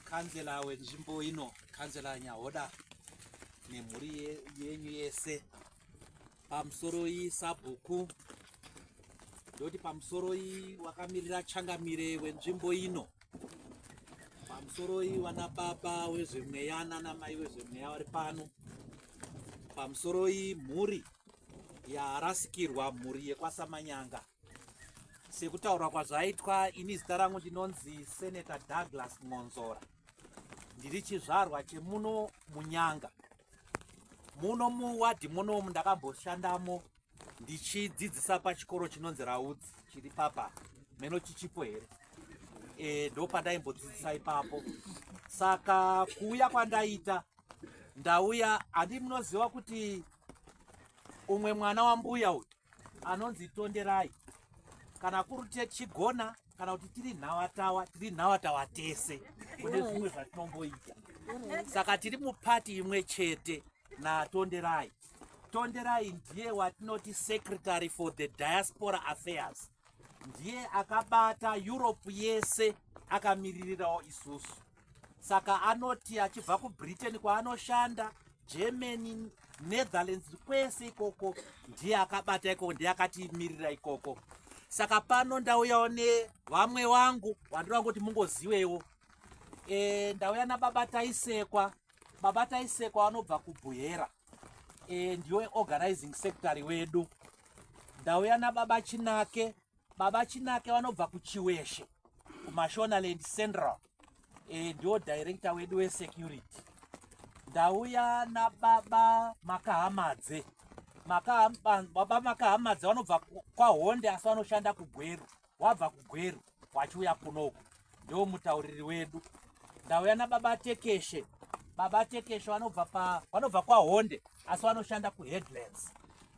kanzela wenzvimbo ino kanzela nyahoda nemhuri yenyu yese pamusoroi sabhuku ndoti pamusoroi wakamirira changamire wenzvimbo ino pamusoroi wana baba wezvemweya nana mai wezvemweya wari pano pamusoroi mhuri yarasikirwa mhuri yekwasamanyanga sekutaura kwazvaitwa ini zita rangu ndinonzi senator douglas mwonzora ndiri chizvarwa chemuno munyanga muno muwadhi munomu ndakamboshandamo ndichidzidzisa pachikoro chinonzi raudzi chiri papa meno chichipo here e, ndopandaimbodzidzisa ipapo saka kuuya kwandaita ndauya handi munoziva kuti umwe mwana wambuya uyu anonzi tonderai kana kuri tichigona kana kuti tiri nhawatawa tiri nhawatawa tese kune zvimwe zvatinomboita saka tiri mupati imwe chete natonderai tonderai ndiye watinoti secretary for the diaspora affairs ndiye akabata europe yese akamiririrawo isusu saka anoti achibva kubritain kwaanoshanda germany netherlands kwese ikoko ndiye akabata ikoko ndiye akatiimirira ikoko saka pano ndauyawo nevamwe wangu wandiri wangu kuti mungozivewo e, ndauya nababa taisekwa baba taisekwa vanobva kubhuhera e, ndiwe organizing secretary wedu ndauya nababa chinake Baba Chinake vanobva kuChiweshe kuMashonaland Central e, ndiwo director wedu wesecurity. Ndauya nababa Makahamadze. Maka, baba Makahamadze vanobva kwaHonde asi vanoshanda kuGweru. Wabva kuGweru wachiuya kuno uku. ndiwo mutauriri wedu ndauya nababa tekeshe baba tekeshe vanobva pa vanobva kwahonde asi vanoshanda kuheadlands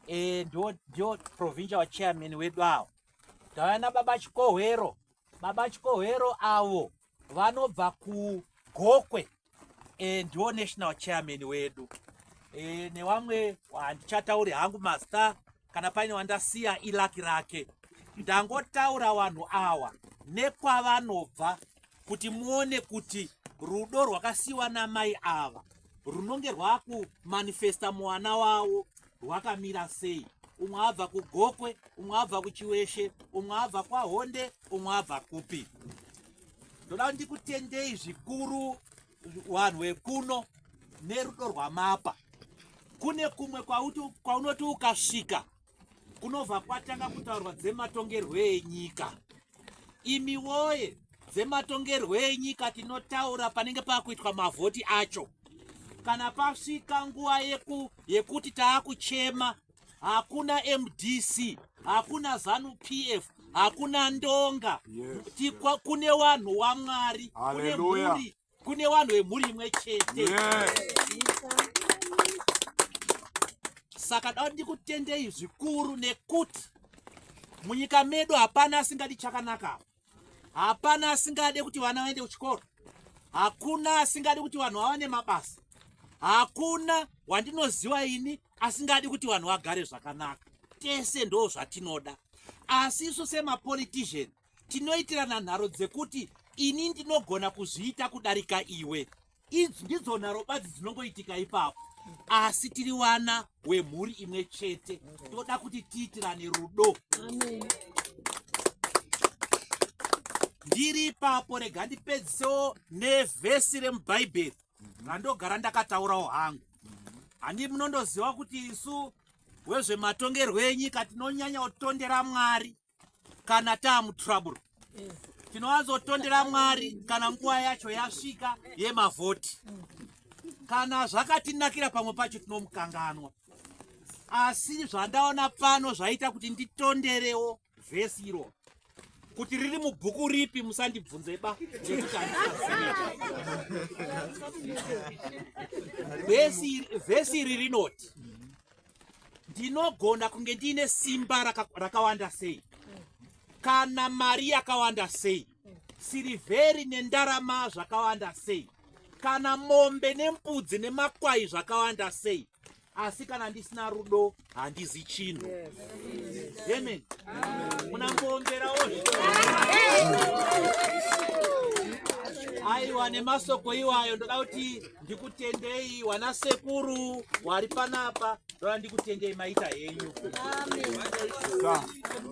e, ndiwo ndiwo provincial chairman wedu awo ndauya nababa chikohwero baba chikohwero avo vanobva kugokwe e, ndiwo national chairman wedu e, newamwe handichatauri hangu master kana paine wandasiya ilaki rake ndangotaura vanhu awa nekwavanobva kuti muone kuti rudo rwakasiwa namai ava runonge rwakumanifesta mwana wavo rwakamira sei umwe abva kugokwe umwe abva kuchiweshe umwe abva kwahonde umwe abva kupi ndoda kuti ndikutendei zvikuru vanhu vekuno nerudo rwamapa kune kumwe kwaunoti ukasvika kunobva kwatanga kutaurwa dzematongerwo enyika imi woye dzematongerwo enyika tinotaura panenge pakuitwa mavhoti acho kana pasvika nguva yeku, yekuti taakuchema hakuna mdc hakuna zanu pf hakuna ndonga yes, tikwa yes. kune wanhu wamwari kune mhuri kune wanhu wemhuri imwe chete yes. saka da ndikutendei zvikuru nekuti munyika medu hapana asingadi chakanaka Hapana asingade kuti vana vaende kuchikoro. Hakuna asingade kuti vanhu vawane mabasa. Hakuna wandinoziva ini asingadi kuti vanhu vagare zvakanaka. Tese ndo zvatinoda. Asi isu semapolitician tinoitirana nharo dzekuti ini ndinogona kuzviita kudarika iwe. idzi ndidzo nharo badzi dzinongoitika ipapo asi tiri wana wemhuri imwe chete toda kuti tiitirane rudo ndiri ipapo rega ndipedzisewo nevhesi remubhaibheri randogara ndakataurawo hangu handi munondoziva kuti isu wezvematongerwo enyika tinonyanya kutondera mwari kana taamutrouble tinowanzotondera mwari kana nguva yacho yasvika yemavhoti kana zvakatinakira pamwe pacho tinomukanganwa asi zvandaona pano zvaita kuti nditonderewo vhesi iro kuti riri mubhuku ripi musandibvunze ba vhesi iri rinoti ndinogona kunge ndiine simba rakawanda raka sei kana mari yakawanda sei sirivheri nendarama zvakawanda sei kana mombe nembudzi nemakwai zvakawanda sei asi kana ndisina rudo handizi chinhu amen munamboongerawo aiwa nemasoko iwayo ndoda kuti ndikutendei wana sekuru wari panapa ndoda ndikutendei maita henyu